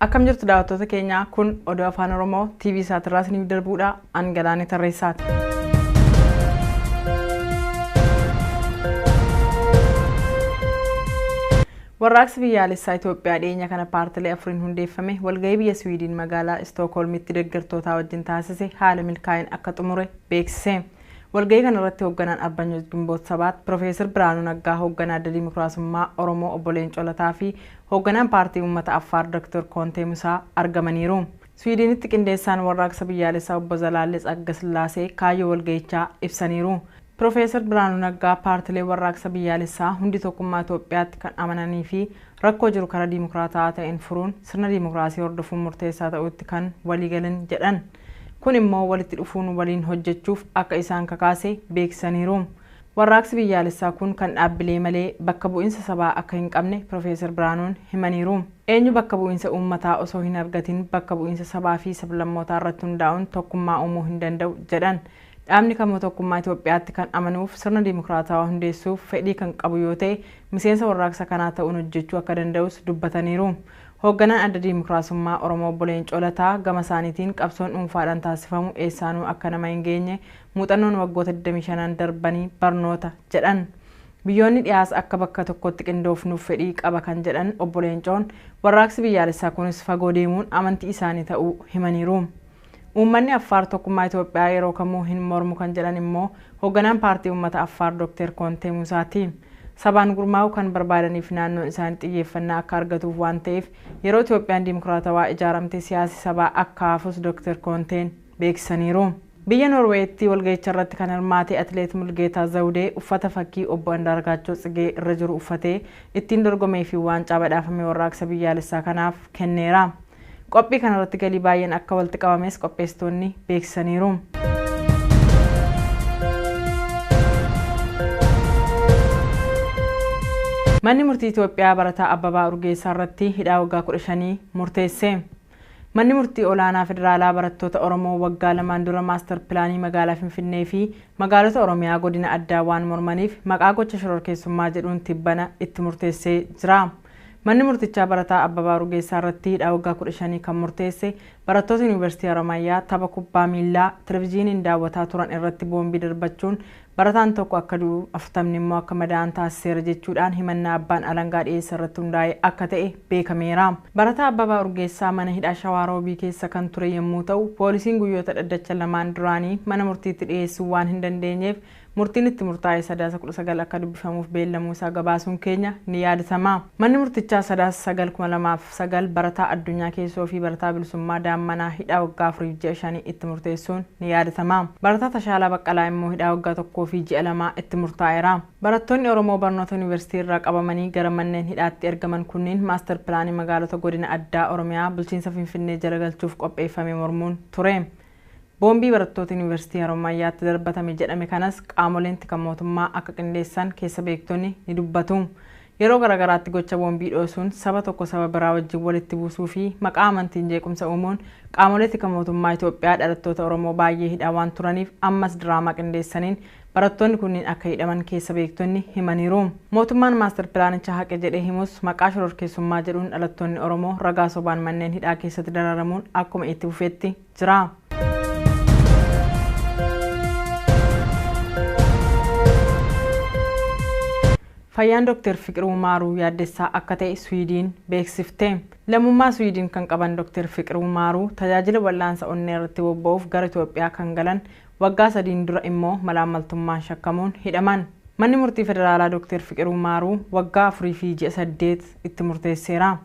Akkam jirtu daawwattoota keenyaa kun oduu afaan Oromoo TV isaatirraa isiniif darbuudha an galaanee tarreessaati. Warraaqsi Biyyaalessaa Itoophiyaa dhiyeenya kana paartilee afuriin hundeeffame walgahii biyya Siwiidiin magaalaa Istookholmitti deggertootaa wajjin taasise haala milkaa'een akka xumure beeksise. Walgahii kanarratti hoogganaan Arbanyooch Gimboot Sabaat Pirofeesar Biraanuu Naggaa, hoogganaa Adda Dimokiraasummaa Oromoo Obbo Leencoo Lataa fi hoogganaan Paartii Uummata Affaar Doktor Koontee Musaa argamaniiru. Siwiidiinitti qindeessaan Warraaqsa Biyyaalessaa Obbo Zalaallee Tsagga Sillaasee kaayyoo walgahichaa ibsaniiru. Pirofeesar Birhaanuu Naggaa paartileen warraaqsa biyyaalessaa hundi tokkummaa Itoophiyaatti kan amananii fi rakkoo jiru karaa dimokraata'aa ta'een furuun sirna dimokraasii hordofuun murteessaa ta'uutti kan walii galan jedhan. Kun immoo walitti dhufuun waliin hojjechuuf akka isaan kakaase beeksisaniiru. Warraaqsi biyyaalessaa kun kan dhaabbilee malee bakka bu'insa sabaa akka hin qabne Pirofeesar Birhaanuun himaniiru. Eenyu bakka bu'insa uummataa osoo hin argatin bakka bu'insa sabaa fi sablammootaa irratti hundaa'uun tokkummaa uumuu hin danda'u jedhan. Dhaabni kamuu tokkummaa Itoophiyaatti kan amanuuf sirna dimokraatawaa hundeessuuf fedhii kan qabu yoo ta'e miseensa warraaqsa kanaa ta'uun hojjechuu akka danda'us dubbataniiru. Hoogganaan Adda Dimokraasummaa Oromoo Obbo Leencoo Lataa gama isaaniitiin qabsoon dhuunfaadhaan taasifamu eessaanuu akka nama hin geenye muuxannoon waggoota 25n darbanii barnoota jedhan. Biyyoonni dhihaas akka bakka tokkotti qindoofnuuf fedhii qaba kan jedhan Obbo Leencoon, warraaqsi biyyaalessaa kunis fagoo deemuun amantii isaanii ta'uu himaniiru. Uummanni Affaar tokkummaa Itoophiyaa yeroo kamuu hin mormu kan jedhan immoo hogganaan Paartii Uummata Affaar Dokteer Koontee Muusaa ti. Sabaan gurmaa'uu kan barbaadaniif naannoon isaanii xiyyeeffannaa akka argatuuf waan ta'eef yeroo Itoophiyaan dimokraatawaa ijaaramte siyaasi sabaa akka hafus Dokteer Koonteen beeksisaniiru. Biyya Noorweeyitti walgahicharratti kan hirmaate Atileet Mulgeetaa Zawudee uffata fakkii Obbo Andaargaachoo Tsigee irra jiru uffatee ittiin dorgomee fi waancaa badhaafame Warraaqsa Biyyaalessaa kanaaf kenneera. Qophii kanarratti galii baay'een akka walitti qabames qopheessitoonni beeksisaniiru. Manni murtii Itoophiyaa barataa Abbabaa Urgeessaa irratti hidhaa waggaa 15 murteesse. Manni murtii olaanaa federaalaa barattoota Oromoo waggaa lamaan dura maastar pilaanii magaalaa Finfinnee fi magaalota Oromiyaa godina addaa waan mormaniif maqaa gocha shororkeessummaa jedhuun tibbana itti murteessee jira. Manni murtichaa barataa Abbabaa Urgeessaa irratti hidhaa waggaa 15 kan murteesse barattootni Yuunivarsiitii Haramaayaa tapha kubbaa miillaa Televijiiniin daawwataa turan irratti boombii darbachuun barataan tokko akka du'u 40 immoo akka madaa'an taasiseera jechuudhaan himannaa abbaan alangaa dhiyeesse irratti hundaa'e akka ta'e beekameera. Barataa Abbabaa Urgeessaa mana hidhaa Shawaa Roobii keessa kan ture yemmuu ta'u poolisiin guyyoota dhaddacha lamaan duraanii mana murtiitti dhiyeessuu waan hin dandeenyeef Murtiin itti murtaa'e Sadaasa 19 akka dubbifamuuf beellamuu isaa gabaasuun keenya ni yaadatama. Manni murtichaa Sadaasa 9, 2009 barataa Addunyaa Keessoo fi barataa Bilisummaa Daammanaa hidhaa waggaa afuriif ji'a shanii itti murteessuun ni yaadatama. Barataa Tashaalaa Baqqalaa immoo hidhaa waggaa tokkoo fi ji'a lamaa itti murtaa'eera. Barattoonni Oromoo barnoota Yunivarsiitii irraa qabamanii gara manneen hidhaatti ergaman kunniin Maastar Pilaanii Magaalota Godina Addaa Oromiyaa Bulchiinsa Finfinnee jala galchuuf qopheeffame mormuun ture. Boombii barattoota Yunivarsiitii Harommayyaatti darbatame jedhame kanas qaamoleen tika mootummaa akka qindeessan keessa beektonni ni dubbatu. Yeroo garagaraatti gocha boombii dhoosuun saba tokko saba biraa wajjin walitti buusuu fi maqaa amantiin jeequmsa uumuun qaamolee tika mootummaa Itoophiyaa dhalattoota Oromoo baayyee hidhaa waan turaniif ammas diraamaa qindeessaniin Barattoonni kunniin akka hidhaman keessa beektonni himaniiru. Mootummaan Maastar Pilaanicha haqe jedhee himus maqaa shororkeessummaa jedhuun dhalattoonni Oromoo ragaa sobaan manneen hidhaa keessatti dararamuun akkuma itti fufetti jira. Fayyaan Dr. Fiqiruu Maaruu yaaddessaa akka ta'e Swiidiin beeksifte. Lammummaa Swiidiin kan qaban Dr. Fiqiruu Maaruu tajaajila wal'aansa onnee irratti bobba'uuf gara Itoophiyaa kan galan Waggaa sadiin dura immoo malaammaltummaan shakkamuun hidhaman. Manni Murtii Federaalaa Dokteer Fiqiruu Maaruu waggaa afurii fi ji'a saddeet itti murteesseera.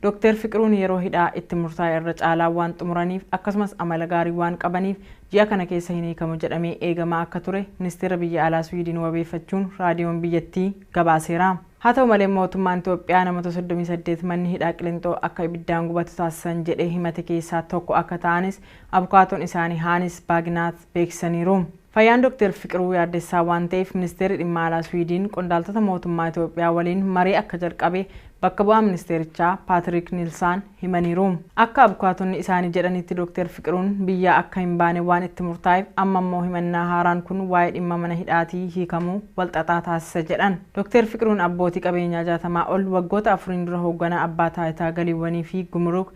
Dokteer Fiqiruun yeroo hidhaa itti murtaa'e irra caalaa waan xumuraniif akkasumas amala gaarii waan qabaniif ji'a kana keessa hin hiikamu jedhamee eegamaa akka ture Ministeera Biyya Alaa Swiidin wabeeffachuun raadiyoon biyyattii gabaaseera. Haa ta'u malee mootummaan Itoophiyaa namoota soddomii saddeet manni hidhaa Qilinxoo akka ibiddaan gubatu taasisan jedhee himate keessaa tokko akka ta'anis abukaatoon isaanii Haanis Baaginaath beeksisaniiru. Fayyaan Doktar Fiqiruu yaaddessaa waan ta'eef Ministeerri Dhimma Alaa Swiidiin qondaaltota mootummaa Itoophiyaa waliin marii akka jalqabe bakka bu'aan ministeerichaa Paatiriik Niilsaan himaniiru. Akka abukaatonni isaanii jedhanitti Doktar Fiqiruun biyyaa akka hin baane waan itti murtaa'eef amma immoo himannaa haaraan kun waa'ee dhimma mana hidhaatii hiikamuu wal xaxaa taasisa jedhan. Doktar Fiqiruun abbootii qabeenyaa jaatamaa ol waggoota afuriin dura hoogganaa Abbaa Taayitaa Galiiwwanii fi Gumuruuk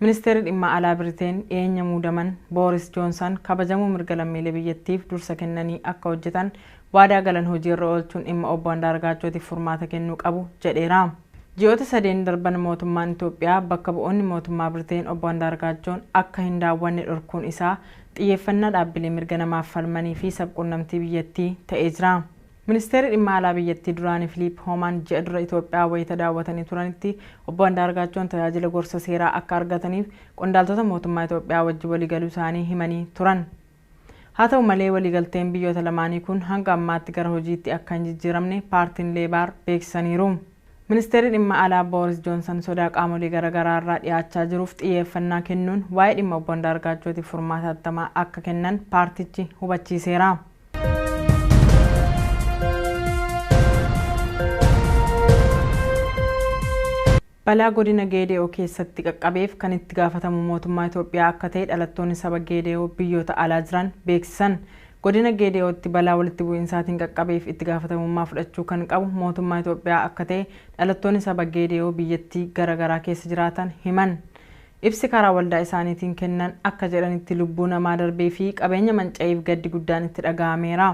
Ministeerri Dhimma Alaa Biriteen dhiyeenya muudaman Booris Joonsan kabajamuu mirga lammiilee biyyattiif dursa kennanii akka hojjetan waadaa galan hojii irra oolchuun dhimma Obbo Andaargaachootiif furmaata kennuu qabu jedheera. Ji'oota sadeen darban mootummaan Itoophiyaa bakka bu'oonni mootummaa Biriteen Obbo Andaargaachoon akka hin daawwanne dhorkuun isaa xiyyeeffannaa dhaabbilee mirga namaaf falmanii fi sab-quunnamtii biyyattii ta'ee jira. Ministeerri Dhimma Alaa biyyattii duraanii Filiip Hoomaan ji'a dura Itoophiyaa wayita daawwatanii turanitti Obbo Andaargaachoon tajaajila gorsa seeraa akka argataniif qondaaltota mootummaa Itoophiyaa wajji waliigaluu isaanii himanii turan. Haa ta'u malee waliigalteen biyyoota lamaanii kun hanga ammaatti gara hojiitti akka hin jijjiiramne paartiin Leebaar beeksisaniiru. Ministeerri Dhimma Alaa Booris Joonsan sodaa qaamolee garagaraa irraa dhiyaachaa jiruuf xiyyeeffannaa kennuun waa'ee dhimma Obbo Andaargaachootiif furmaata hatattamaa akka kennan paartichi hubachiiseera. Balaa godina Geede'oo keessatti qaqqabeef kan itti gaafatamu mootummaa Itoophiyaa akka ta'e dhalattoonni saba Geede'oo biyyoota alaa jiran beeksisan. Godina Geede'ootti balaa walitti bu'insaatiin qaqqabeef itti gaafatamummaa fudhachuu kan qabu mootummaa Itoophiyaa akka ta'e dhalattoonni saba Geede'oo biyyattii gara garaa keessa jiraatan himan. Ibsi karaa waldaa isaaniitiin kennan akka jedhanitti lubbuu namaa darbee fi qabeenya manca'eef gaddi guddaan itti dhaga'ameera.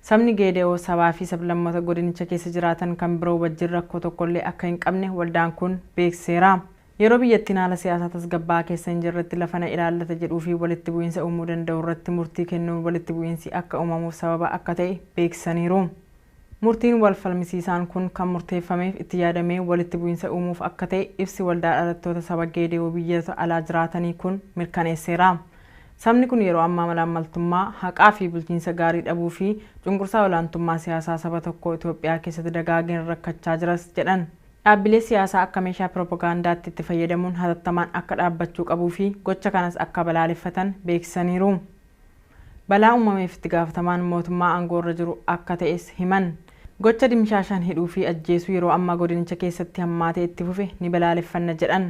Sabni Geede'oo sabaa fi sablammoota godinicha keessa jiraatan kan biroo wajjin rakkoo tokkollee akka hin qabne waldaan kun beeksiseera. Yeroo biyyattiin haala siyaasaa tasgabbaa'aa keessa hin jirretti lafa na ilaallata jedhuu fi walitti bu'iinsa uumuu danda'u irratti murtii kennuun walitti bu'iinsi akka uumamuuf sababa akka ta'e beeksisaniiru. Murtiin wal falmisiisaan kun kan murteeffameef itti yaadamee walitti bu'iinsa uumuuf akka ta'e ibsi Waldaa Dhalattoota Saba Geede'oo biyyota alaa jiraatanii kun mirkaneesseera. Sabni kun yeroo ammaa malaammaltummaa, haqaa fi bulchiinsa gaarii dhabuu fi cunqursaa olaantummaa siyaasaa saba tokkoo Itoophiyaa keessatti dagaageen rakkachaa jiras jedhan. Dhaabbilee siyaasaa akka meeshaa piroopagaandaatti itti fayyadamuun hatattamaan akka dhaabbachuu qabuu fi gocha kanas akka balaaleffatan beeksisaniiru. Balaa uumameef itti gaafatamaan mootummaa aangoo irra jiru akka ta'es himan. Gocha dimshaashaan hidhuu fi ajjeesuu yeroo ammaa godinicha keessatti hammaatee itti fufe ni balaaleffanna jedhan.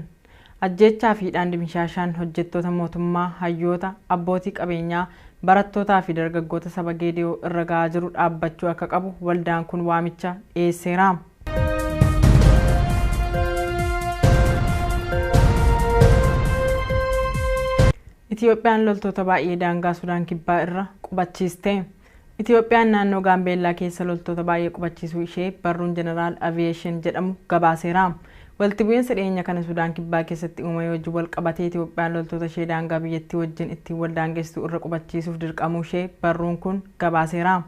Ajjeechaa fi hidhaan dimshaashaan hojjettoota mootummaa, hayyoota, abbootii qabeenyaa, barattootaa fi dargaggoota saba Geede'oo irra ga'aa jiru dhaabbachuu akka qabu waldaan kun waamicha dhiyeesseera. Itiyoophiyaan loltoota baay'ee daangaa Sudaan Kibbaa irra qubachiiste. Itiyoophiyaan naannoo Gaambeellaa keessa loltoota baay'ee qubachiisuu ishee barruun Jeneraal Aviyeeshin jedhamu gabaaseera. Walitti bu'iinsa dhiyeenya kana Sudaan Kibbaa keessatti uumamee wajjin wal qabatee Itiyoophiyaan loltoota ishee daangaa biyyattii wajjin ittiin wal daangesstu irra qubachiisuuf dirqamuu ishee barruun kun gabaaseera.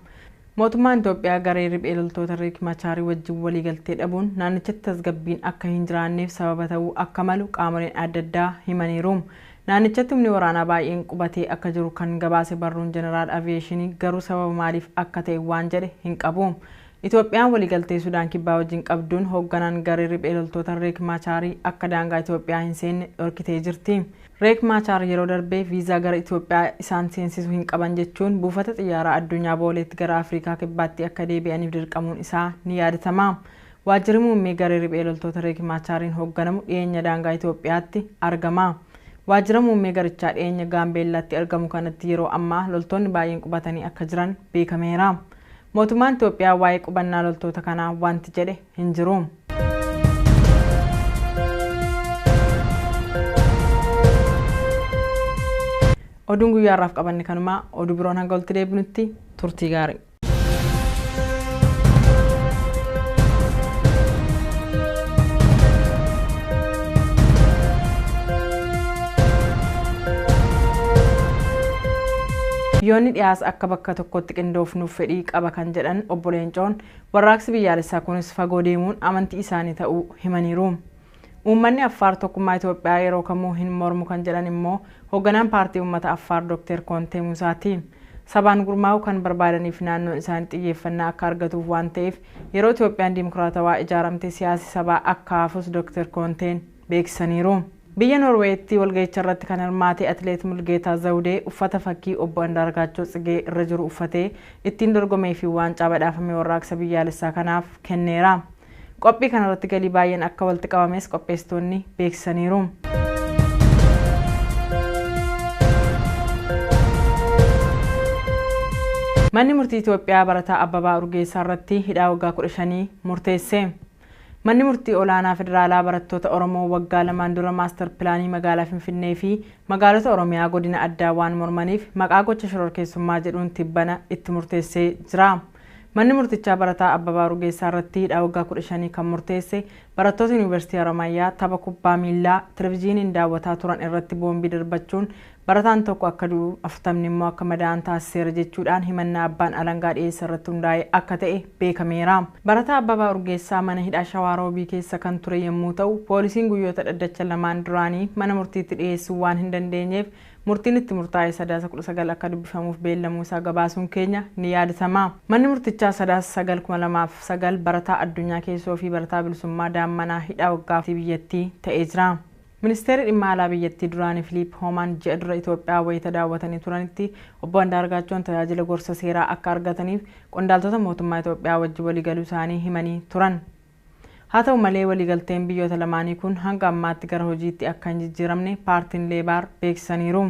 Mootummaan Itoophiyaa garee riphee loltoota Riik Machaarii wajjin waliigaltee dhabuun naannichatti tasgabbiin akka hin jiraanneef sababa ta'uu akka malu qaamoleen adda addaa himaniiru. Naannichatti humni waraanaa baay'een qubatee akka jiru kan gabaase barruun Jeneraal Aviyeeshinii garuu sababa maaliif akka ta'e waan jedhe hin qabu. Itoophiyaan waliigaltee Sudaan Kibbaa wajjin qabduun hoogganaan garee riphee loltoota Reek Maachaar akka daangaa Itoophiyaa hin seenne dhorkitee jirti. Reek Maachaar yeroo darbe viizaa gara Itoophiyaa isaan seensisu hin qaban jechuun buufata xiyyaaraa addunyaa Booleetti gara Afriikaa Kibbaatti akka deebi'aniif dirqamuun isaa ni yaadatama. Waajjirri Muummee garee riphee loltoota Riik Maachaariin hoogganamu dhiyeenya daangaa Itoophiyaatti argama. Waajjira muummee garichaa dhiyeenya Gaambeellaatti argamu kanatti yeroo ammaa loltoonni baay'een qubatanii akka jiran beekameera. Mootummaan Itoophiyaa waa'ee qubannaa loltoota kanaa wanti jedhe hin jiru. Oduun guyyaa har'aaf qabanne kanuma. Oduu biroon hanga walitti deebinutti turtii gaarii. Biyyoonni dhiyaas akka bakka tokkotti qindoofnuuf fedhii qaba kan jedhan obbo Leencoon warraaqsi biyyaalessaa kunis fagoo deemuun amantii isaanii ta'uu himaniiru. Uummanni Affaar tokkummaa Itoophiyaa yeroo kamuu hin mormu kan jedhan immoo hogganaan Paartii Uummata Affaar Dokteer Koontee Muusaa ti. Sabaan gurmaa'uu kan barbaadaniif naannoon isaanii xiyyeeffannaa akka argatuuf waan ta'eef yeroo Itoophiyaan dimokraatawaa ijaaramte siyaasi sabaa akka hafus Dokteer Koonteen beeksisaniiru. Biyya Noorweeyitti walgahicharratti kan hirmaate Atileet Mulgeetaa Zawudee uffata fakkii Obbo Andaargaachoo Tsigee irra jiru uffatee ittiin dorgomee fi waancaa badhaafame Warraaqsa Biyyaalessaa kanaaf kenneera. Qophii kanarratti galii baay'een akka walitti qabames qopheessitoonni beeksisaniiru. Manni murtii Itoophiyaa barataa Abbabaa Urgeessaa irratti hidhaa waggaa 15 murteesse. Manni murtii olaanaa federaalaa barattoota Oromoo waggaa lamaan dura maastar pilaanii magaalaa Finfinnee fi magaalota Oromiyaa godina addaa waan mormaniif maqaa gocha shororkeessummaa jedhuun tibbana itti murteessee jira. Manni murtichaa barataa Abbabaa Urgeessaa irratti hidhaa waggaa 15 kan murteesse barattoota Yuunivarsiitii Haramaayaa tapha kubbaa miillaa televijiiniin daawwataa turan irratti boombii darbachuun barataan tokko akka du'u 40 immoo akka madaa'an taasiseera jechuudhaan himannaa abbaan alangaa dhiyeesse irratti hundaa'e akka ta'e beekameera. Barataa Abbabaa Urgeessaa mana hidhaa Shawaa Roobii keessa kan ture yommuu ta'u, poolisiin guyyoota dhaddacha lamaan duraanii mana murtiitti dhiyeessuu waan hin dandeenyeef Murtiin itti murtaa'e Sadaasa 19 akka dubbifamuuf beellamuu isaa gabaasuun keenya ni yaadatama. Manni murtichaa Sadaasa 9, 2009 barataa Addunyaa Keessoo fi barataa Bilisummaa Daammanaa hidhaa waggaa tti biyyattii ta'ee jira. Ministeerri Dhimma Alaa biyyattii duraanii Filiip Hoomaan ji'a dura Itoophiyaa wayita daawwatanii turanitti Obbo Andaargaachoon tajaajila gorsa seeraa akka argataniif qondaaltota mootummaa Itoophiyaa wajjin waliigaluu isaanii himanii turan. Haa ta'u malee waliigalteen biyyoota lamaanii kun hanga ammaatti gara hojiitti akka hin jijjiiramne paartiin Leebaar beeksisaniiru.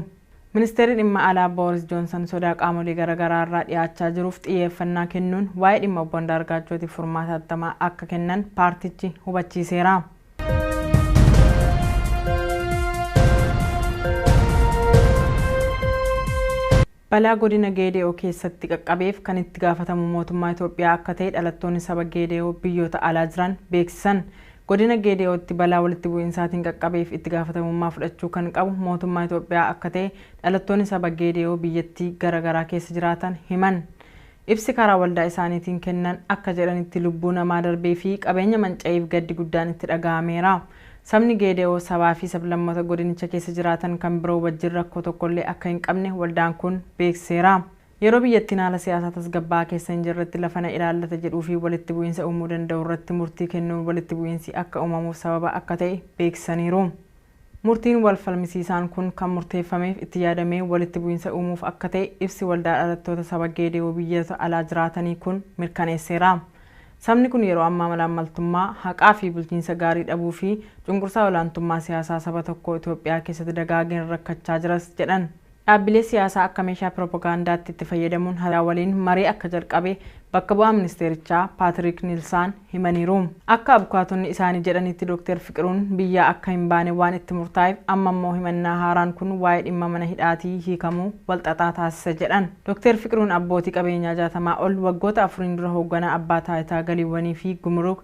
Ministeerri Dhimma Alaa Booris Joonsan sodaa qaamolee gara garaa irraa dhiyaachaa jiruuf xiyyeeffannaa kennuun waa'ee dhimma Obbo Andaargaachootiif furmaata hattamaa akka kennan paartichi hubachiiseera. Balaa godina Geede'oo keessatti qaqqabeef kan itti gaafatamu mootummaa Itoophiyaa akka ta'e dhalattoonni saba Geede'oo biyyoota alaa jiran beeksisan. Godina Geede'ootti balaa walitti bu'insaatiin qaqqabeef itti gaafatamummaa fudhachuu kan qabu mootummaa Itoophiyaa akka ta'e dhalattoonni saba Geede'oo biyyattii gara garaa keessa jiraatan himan. Ibsi karaa waldaa isaaniitiin kennan akka jedhanitti lubbuu namaa darbee fi qabeenya manca'eef gaddi guddaan itti dhaga'ameera. Sabni Geede'oo sabaa fi sablammoota godinicha keessa jiraatan kan biroo wajjin rakkoo tokko illee akka hin qabne waldaan kun beeksiseera. Yeroo biyyattiin haala siyaasaa tasgabbaa'aa keessa hin jirretti lafa na ilaallata jedhuu fi walitti bu'iinsa uumuu danda'u irratti murtii kennuun walitti bu'iinsi akka uumamuuf sababa akka ta'e beeksisaniiru. Murtiin wal falmisiisaan kun kan murteeffameef itti yaadamee walitti bu'insa uumuuf akka ta'e ibsi Waldaa Dhalattoota Saba Geede'oo Biyyoota Alaa Jiraatanii kun mirkaneesseera. Sabni kun yeroo ammaa malaammaltummaa, haqaa fi bulchiinsa gaarii dhabuu fi cunqursaa olaantummaa siyaasaa saba tokkoo Itoophiyaa keessatti dagaageen rakkachaa jiras jedhan. Dhaabbilee siyaasaa akka meeshaa piroopagaandaatti itti fayyadamuun haaraa waliin marii akka jalqabe bakka bu'aan ministeerichaa Paatiriik Niilsaan himaniiru. Akka abukaatonni isaanii jedhanitti Dooktar Fiqiruun biyyaa akka hin baane waan itti murtaa'eef amma immoo himannaa haaraan kun waa'ee dhimma mana hidhaatii hiikamuu walxaxaa taasisa jedhan. Dooktar Fiqiruun abbootii qabeenyaa jaatamaa ol waggoota afuriin dura hoogganaa Abbaa Taayitaa Galiiwwanii fi Gumuruuk,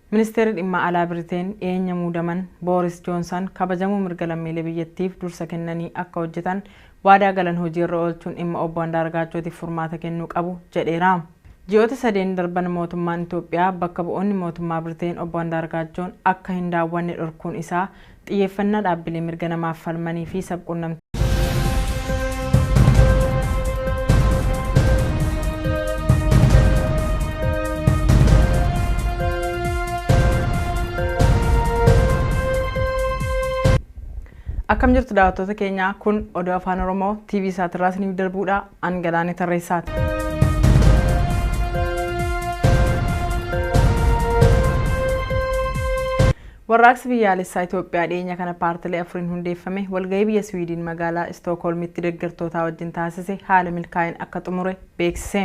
Ministeerri Dhimma Alaa Biriteen dhiyeenya muudaman Booris Joonsan kabajamuu mirga lammiilee biyyattiif dursa kennanii akka hojjetan waadaa galan hojii irra oolchuun dhimma Obbo Andaargaachootiif furmaata kennuu qabu jedheera. Ji'oota sadeen darban mootummaan Itoophiyaa bakka bu'oonni mootummaa Biriteen Obbo Andaargaachoon akka hin daawwanne dhorkuun isaa Xiyyeeffannaa dhaabbilee mirga namaaf falmanii fi sab-qunnamtii. Akkam jirtu daawwattoota keenya kun oduu afaan oromoo TV isaatirraa isiniif darbuudha an galaanee tarreessaati. Warraaqsi Biyyaalessaa Itoophiyaa dhiyeenya kana paartilee afuriin hundeeffame walgahii biyya Siwiidiin magaalaa Istookholmitti deggertootaa wajjin taasise haala milkaa'een akka xumure beeksise.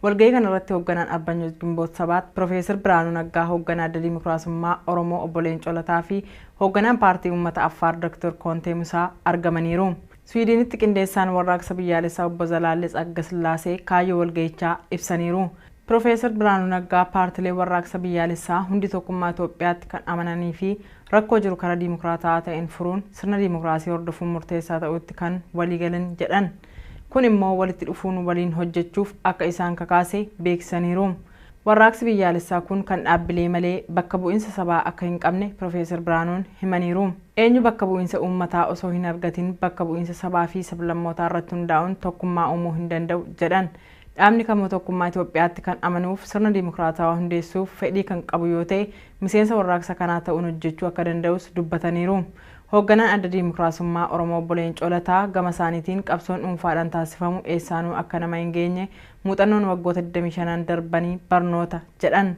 Walgahii kanarratti hogganaan Arbanyooch Gimboot Sabaat Pirofeesar Biraanuu Naggaa, hogganaa Adda Dimokiraasummaa Oromoo Obbo Leencoo Lataa fi hogganaan Paartii Uummata Affaar Doktor Koontee Musaa argamaniiru. Siwiidiinitti qindeessaan Warraaqsa Biyyaalessaa Obbo Zalaallee Tsagga Sillaasee kaayyoo walgahichaa ibsaniiru. Pirofeesar Birhaanuu Naggaa paartileen warraaqsa biyyaalessaa hundi tokkummaa Itoophiyaatti kan amananii fi rakkoo jiru karaa dimokraata'aa ta'een furuun sirna dimokraasii hordofuun murteessaa ta'uutti kan walii galan jedhan. Kun immoo walitti dhufuun waliin hojjechuuf akka isaan kakaase beeksisaniiru. Warraaqsi biyyaalessaa kun kan dhaabbilee malee bakka bu'insa sabaa akka hin qabne Pirofeesar Birhaanuun himaniiru. Eenyu bakka bu'insa uummataa osoo hin argatin bakka bu'insa sabaa fi sablammootaa irratti hundaa'uun tokkummaa uumuu hin danda'u jedhan. Dhaabni kamuu tokkummaa Itoophiyaatti kan amanuuf sirna dimokraatawaa hundeessuuf fedhii kan qabu yoo ta'e miseensa warraaqsa kanaa ta'uun hojjechuu akka danda'us dubbataniiru. Hoogganaan Adda Dimokraasummaa Oromoo Obbo Leencoo Lataa gama isaaniitiin qabsoon dhuunfaadhaan taasifamu eessaanuu akka nama hin geenye muuxannoon waggoota 25n darbanii barnoota jedhan.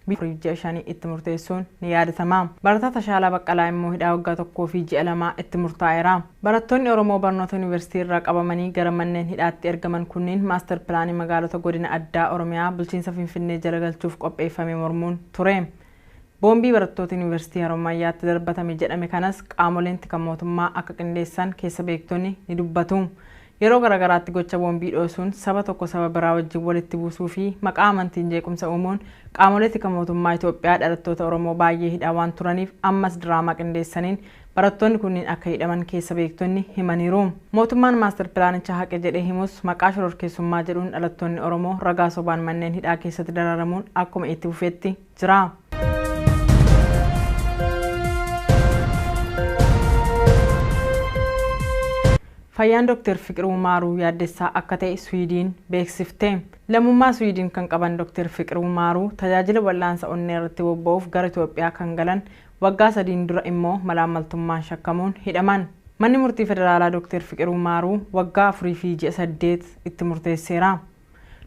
Biyya afuriif ji'a shanii itti murteessuun ni yaadatama. Barataa Tashaalaa Baqqalaa immoo hidhaa waggaa tokkoo fi ji'a lamaa itti murtaa'eera. Barattoonni Oromoo barnoota Yunivarsitii irraa qabamanii gara manneen hidhaatti ergaman kunniin Maastar Pilaanii Magaalota Godina Addaa Oromiyaa Bulchiinsa Finfinnee jala galchuuf qopheeffame mormuun ture. Boombii barattoota Yunivarsitii Harommayyaatti darbatame jedhame kanas qaamoleen tika mootummaa akka qindeessan keessa beektonni ni dubbatu. Yeroo garagaraatti gocha boombii dhoosuun saba tokko saba biraa wajjin walitti buusuu fi maqaa amantiin jeequmsa uumuun qaamolee tika mootummaa Itoophiyaa dhalattoota Oromoo baay'ee hidhaa waan turaniif ammas diraamaa qindeessaniin barattoonni kunniin akka hidhaman keessa beektonni himaniiru. Mootummaan Maastar Pilaanichaa haqe jedhee himus maqaa shororkeessummaa jedhuun dhalattoonni Oromoo ragaa sobaan manneen hidhaa keessatti dararamuun akkuma itti fufetti. jira. Fayyaan Dr. Fiqiruu Maaruu yaaddessaa akka ta'e Swiidiin beeksifte. Lammummaa Swiidiin kan qaban Dr. Fiqiruu Maaruu tajaajila wal'aansa onnee irratti bobba'uuf gara Itoophiyaa kan galan waggaa sadiin dura immoo malaammaltummaan shakkamuun hidhaman. Manni murtii federaalaa Dr. Fiqiruu Maaruu waggaa afurii fi ji'a saddeet itti murteesseera.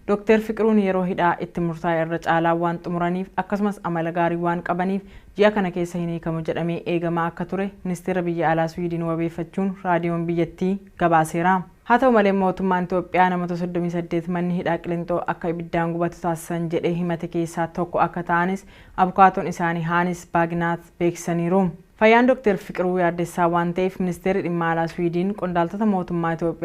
Doktar Fiqiruun yeroo hidhaa itti murtaa'e irra caalaa waan xumuraniif akkasumas amala gaarii waan qabaniif ji'a kana keessa hin hiikamu jedhamee eegamaa akka ture Ministeera Biyya Alaa Swiidin wabeeffachuun raadiyoon biyyattii gabaaseera. Haa ta'u malee mootummaan Itoophiyaa namoota soddomii saddeet manni hidhaa Qilinxoo akka ibiddaan gubatu taasisan jedhee himate keessaa tokko akka ta'anis abukaatoon isaanii Haanis Baaginaath beeksisaniiru. Fayyaan Doktar Fiqiruu yaaddessaa waan ta'eef Ministeerri Dhimma Alaa Swiidin qondaaltota mootummaa Itoophiyaa